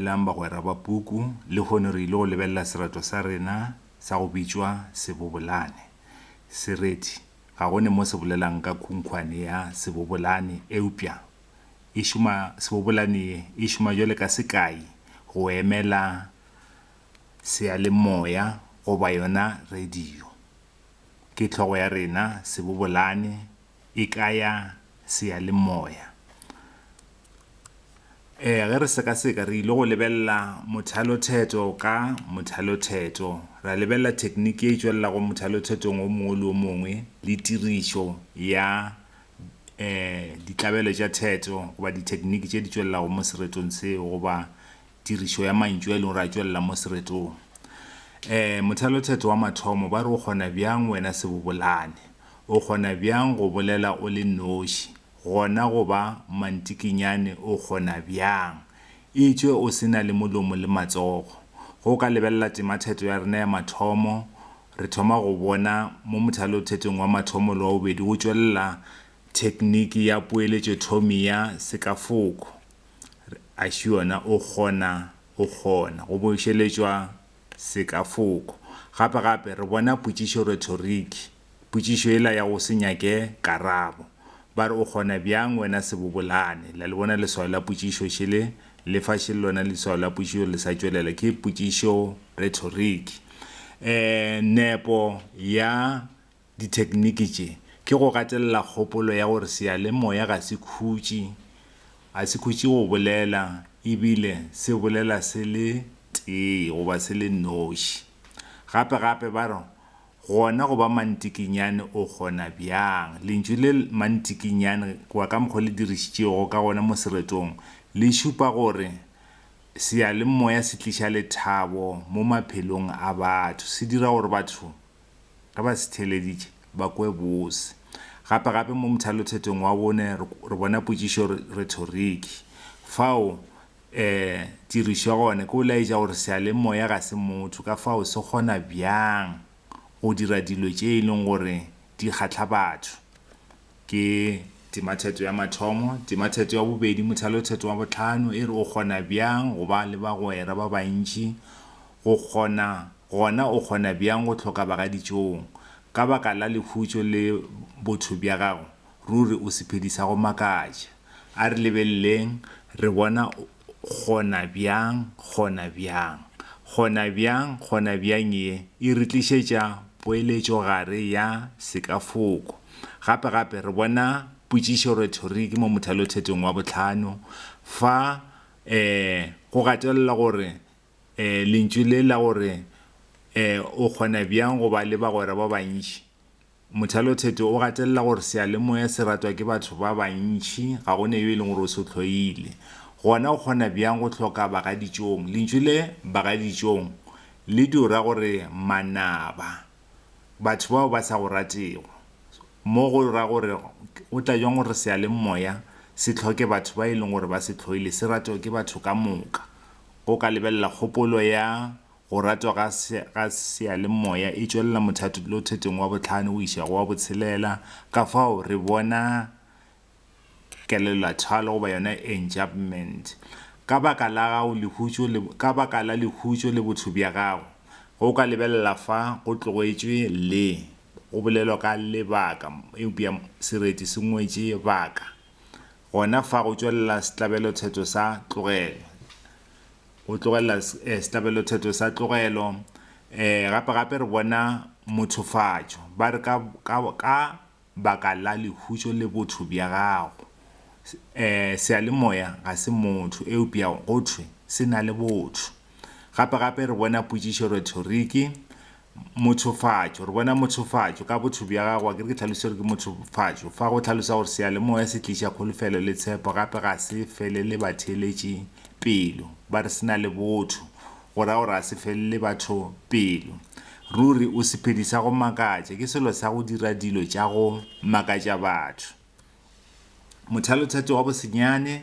Dumelang bagwera ba puku, lehono re ile go lebelela sereto sa rena sa go bitšwa Sebobolane. Sereti ga go ne mo se bolelang ka khunkhwane ya sebobolane, eupša e šoma, sebobolane ye e šoma bjale ka sekai go emela seyalemoya goba yona radio. Ke hlogo ya rena, sebobolane. e ka ya seyalemoya. Ge re sekaseka, re ile go lebelela mothalothetho ka mothalothetho, ra lebelela thekniki e e tšwelelago mothalothethong wo mongwe le wo mongwe le tirišo ya ditlabelo tša thetho goba dithekniki tše di tšwelelago mo seretong seo goba tirišo ya mantšu a e lego gore a tšwelela mo seretong. Mothalothetho wa mathomo ba re o kgona bjang wena sebobolane? O kgona bjang go bolela o le noši, gona go ba mantsikinyane? O kgona bjang, etšwe o se na le molomo le matsogo? Ge o ka lebelela temathetho ya rena ya mathomo, re thoma go bona mo mothalothetong wa mathomo le wa bobedi go tšwelela thekniki ya poeletšothomi ya sekafoko, re, a šiona, o kgona, o kgona go bošeletšwa sekafoko. Gape-gape, re bona potšišo rhetoriki, potšišo yela ya go se nyake karabo. Ba re, O kgona bjang, wena sebobolane? La le bona leswao la potšišo šele? Le fa šele lona leswao la potšišo le sa tšwelela, ke potšišo rhetoriki. Ee, nepo ya dithekniki tše ke go gatelela kgopolo ya gore seyalemoya ga se khutše, ga se khutše go bolela e bile se bolela se le tee goba se le noši. Gape gape ba re gona go ba mantikinyane o kgona bjang. Lentšu le mantikinyane goba ka mokgwa o le dirišitšego ka gona mo seretong le šupa gore seyalemoya se tliša lethabo mo maphelong a batho, se dira gore batho ge ba se theeleditše, ba kwe bose. Gape gape mo mothalothetong wa bone re, re bona potšišo rhetoriki. Fao e dirišwa gone ke go laetša gore seyalemoya ga se motho, ka fao se kgona bjang go dira dilo tše e leng gore di kgahla batho. Ke timathetho ya mathomo, timathetho ya bobedi, mothalothetho wa bohlano e re o kgona bjang go ba le bagwera ba bantši, go kgona, gona o kgona bjang go hloka bagaditšong. Ka baka la lekhutšo le botho bja gago, ruri o sephedi sa go makatša. A re lebeleleng, re bona o, Gonabjang, gonabjang, gonabjang, gonabjang ye e re tlišetša poeletšogare ya sekafoko. Gape, gape re bona potšišo, rhetoriki, mo mothalothetong wa bohlano, fa e go gatelelwa gore e lentšu le la gore e o kgona bjang go ba le bagwera ba bantši, Mothalotheto o gatelela gore seyalemoya se ratwa ke batho ba bantši, ga go ne yo e leng gore o se hloile. Gona o kgona bjang go hloka bagaditšong? Lentšu le bagaditšong le dio ra gore manaba, batho bao ba sa go ratego. Mo go ra gore o tla bjang gore seyalemoya se hloke batho ba e leng gore ba se hloile, se ratwa ke batho ka moka? Go ka lebelela kgopolo ya Go ratwa ga ga seyalemoya e tšwelela mothatolothetong wa bohlano go iša go wa botshelela, ka fao re bona kelellothalo goba yona enjapment. Ka baka la gago lehutšo le ka baka la lehutšo le botho bja gago, ge o ka lebelela fa go tlogetšwe le go bolelwa ka lebaka eupša sereti se ngwetše baka, gona fa go tšwelela setlabelothetho sa tlogelo. O tlogelela sehlabelothetho sa tlogelo. Gape-gape re bona mothofatšo. Ba re, Ka, ka, ka baka la lehušo le botho bja gago. Seyalemoya ga se motho, eupša go thwe se na le botho. Gape-gape re bona potšišo retoriki, Mothofatšo, re bona mothofatšo ka botho bja gago, akere ke tlhalosetše gore ke mothofatšo. Fa go hlalosa gore seyalemoya se tliša kholofelo le tshepo, gape ga se felele batheeletši pelo. Ba re se na le botho, go ra gore ga se felele batho pelo. Ruri, o sephedi sa go makatša, ke selo sa go dira dilo tša go makatša batho. Mothalotheto wa bosenyane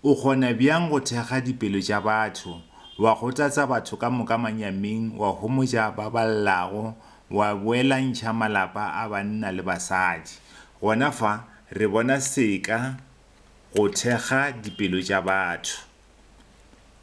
o kgona bjang go thekga dipelo tša batho, wa gotatsa batho ka moka manyaming, wa homotša ba ba llago, wa boelantšha malapa a banna le basadi? Gona fa re bona seka go thekga dipelo tša batho.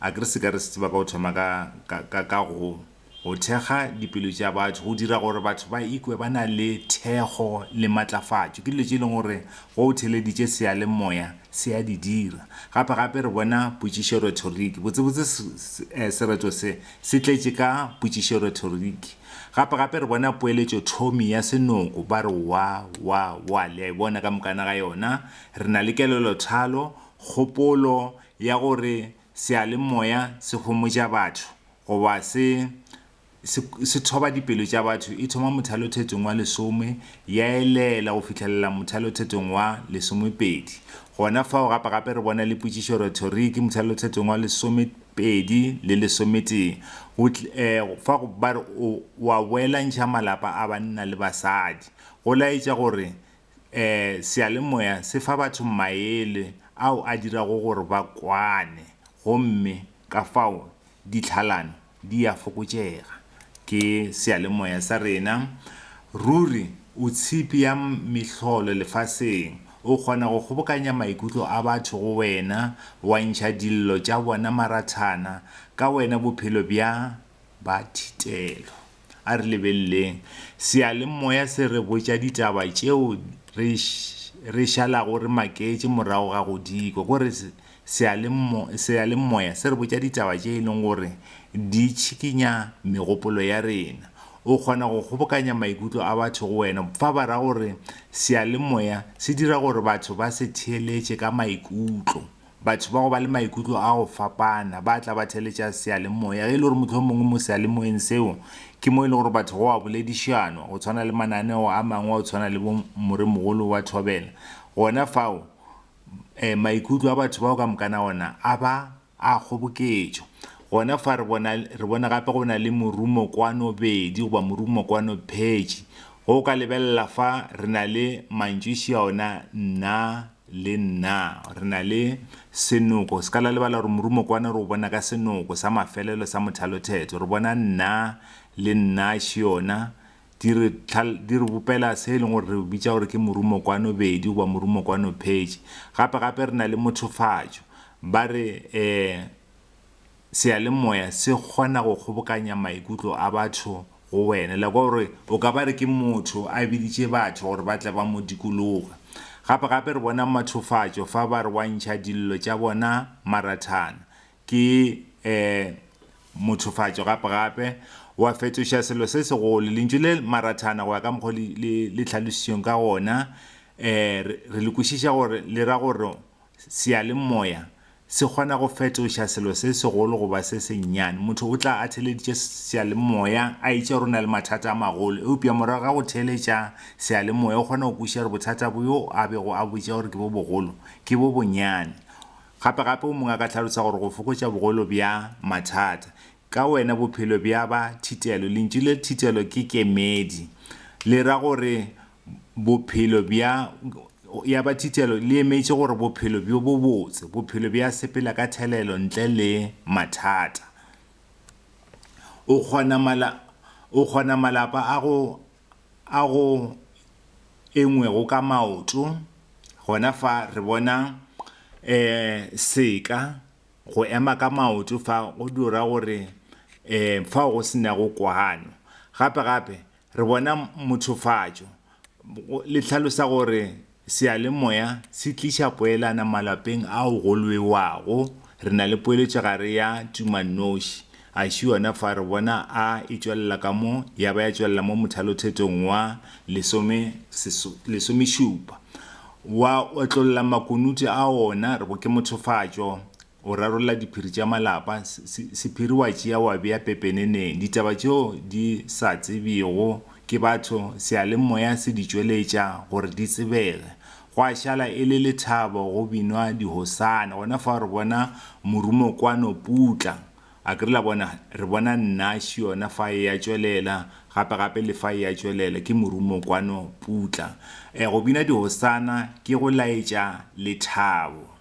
A ke re se ka re se tseba ka go thoma ka, ka, ka, ka go, go thekga dipelo tša batho, go dira gore batho ba ikwe ba na le thekgo le matlafatšo. Ke dilo tše e leng gore ge o theeleditše seyalemoya se a di dira. Gape, gape re bona potšišo rhetoriki. Botsebotse se, se, eh, sereto se, se tletše ka potšišo rhetoriki. Gape, gape re bona poeletšothomi ya senoko, ba re wa, wa, wa. Le a e bona ka mokana ga yona. Re na le kelelothalo. Kgopolo ya gore seyalemoya se homotša batho goba se se se thoba dipelo tša batho e thoma mothalothetong wa lesome ya elela go fihlelela mothalothetong wa lesomepedi. Gona fao gape gape re bona le potšišo rhetoriki mothalothetong wa lesomepedi le lesometee go tl e fa go ba re o o a boelantšha malapa a banna le basadi go laetša gore Ee, seyalemoya se fa batho maele ao a dirago gore ba kwane gomme ka fao ditlhalano di a fokotšega. Ke seyalemoya sa rena ruri o tshipi ya mehlolo lefaseng. O kgona go kgobokanya maikutlo a batho go wena, wa ntšha dillo tša bona marathana ka wena bophelo bja ba thitelo. A re lebeleleng seyalemoya se re botša ditaba tšeo re re šalago re maketše morago ga go di kwa. Ko re seyalemoya se re botša ditaba tše e leng gore di tšhikinya megopolo ya rena. O kgona go kgobokanya maikutlo a batho go wena. Fa ba ra gore seyalemoya se dira gore batho ba se theeletše ka maikutlo. Batho ba go ba le maikutlo a go fapana ba tla ba theletša seyalemoya, ge e le gore mohlomongwe mo seyalemoyeng seo ke mo e le gore batho go a boledišanwa, go tshwana le mananeo a mangwe a go tshwana le bo Moremogolo wa Thobela. Gona fao maikutlo a batho bao ka mokana ona a ba a kgoboketšwa. Gona fa re bona, re bona gape go na le morumo kwano bedi goba morumo kwano phetši, ge o ka lebelela fa re na le mantšuši a ona nna Le nna, re na le Senoko. Se ka la lebala gore morumokwane re o bona ka senoko sa mafelelo sa mothalothetho. Re bona nna le nna šiona di re, di re bopela se e leng gore re o bitša gore ke morumokwane bedi goba morumokwane phetši. Gape-gape re na le mothofatšo. Ba re, eh, Seyalemoya se kgona go kgobokanya maikutlo a batho go wena. Like wa gore o ka ba re ke motho a biditše batho gore ba tle ba mo dikologa. Gape gape re bona mathofatšo fa ba re wa ntšha dillo tša bona marathana. Ke eh mothofatšo gape gape. Wa fetoša selo se segolo. Lentšu le marathana go ya ka mokgo le le le tlhalositšweng ka gona eh re le kwešiša gore le ra gore Seyalemoya se kgona go fetoša selo se segolo go ba se sennyane. Motho o tla a theeleditše seyalemoya a etšwa gore o na le mathata a magolo, eupša morago ga go theeletša seyalemoya o kgona go kwešiša gore bothata bjo a bego a botša gore ke bo bogolo ke bo bonyane. Gape-gape o mongwe a ka hlalosa gore go fokotša bogolo bja mathata ka wena bophelo bja ba thitelo. Lentšu le thitelo ke kemedi, le ra gore Bophelo bja, ya ba thitelo le emetše gore bophelo bjo bobotse, bophelo bja sepela ka thelelo ntle le mathata. O kgona mala, o kgona malapa a go, a go engwego ka maoto, gona fa re bona eh seka, go ema ka maoto fa go dira gore eh fao go se nago kwano. Gape gape re bona mothofatšo le hlalosa gore seyalemoya se tliša poelana malapeng ao go lwewago re na le poeletšo gare ya tumannoši a ši yona fa re bona a e tšwelela ka mo ya ba ya tšwelela mo mothalothetong wa lesome lesomešupa wa otlolola makunutu a ona re bo ke mothofatšo o rarolla diphiri tša malapa, sephiri wa tšea wa bea pepeneneng, ditaba tšeo di sa tsebjego ke batho seyalemoya se di tšweletša gore di tsebege. Gwa šala e le lethabo go binwa dihosana, gona fao re bona morumo kwano putla, a ke re la bona, re bona Nash yona fa eya tšwelela, gape gape le fa eya tšwelela, ke morumo kwano putla. Go bina dihosana ke go laetša lethabo.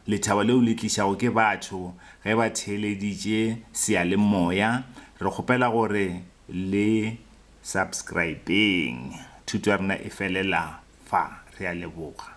lethabo leo le tlišago ke batho ge ba theeleditše seyalemoya, re kgopela gore le subscribeng. Thuto ya rena e felela fa. Re a leboga.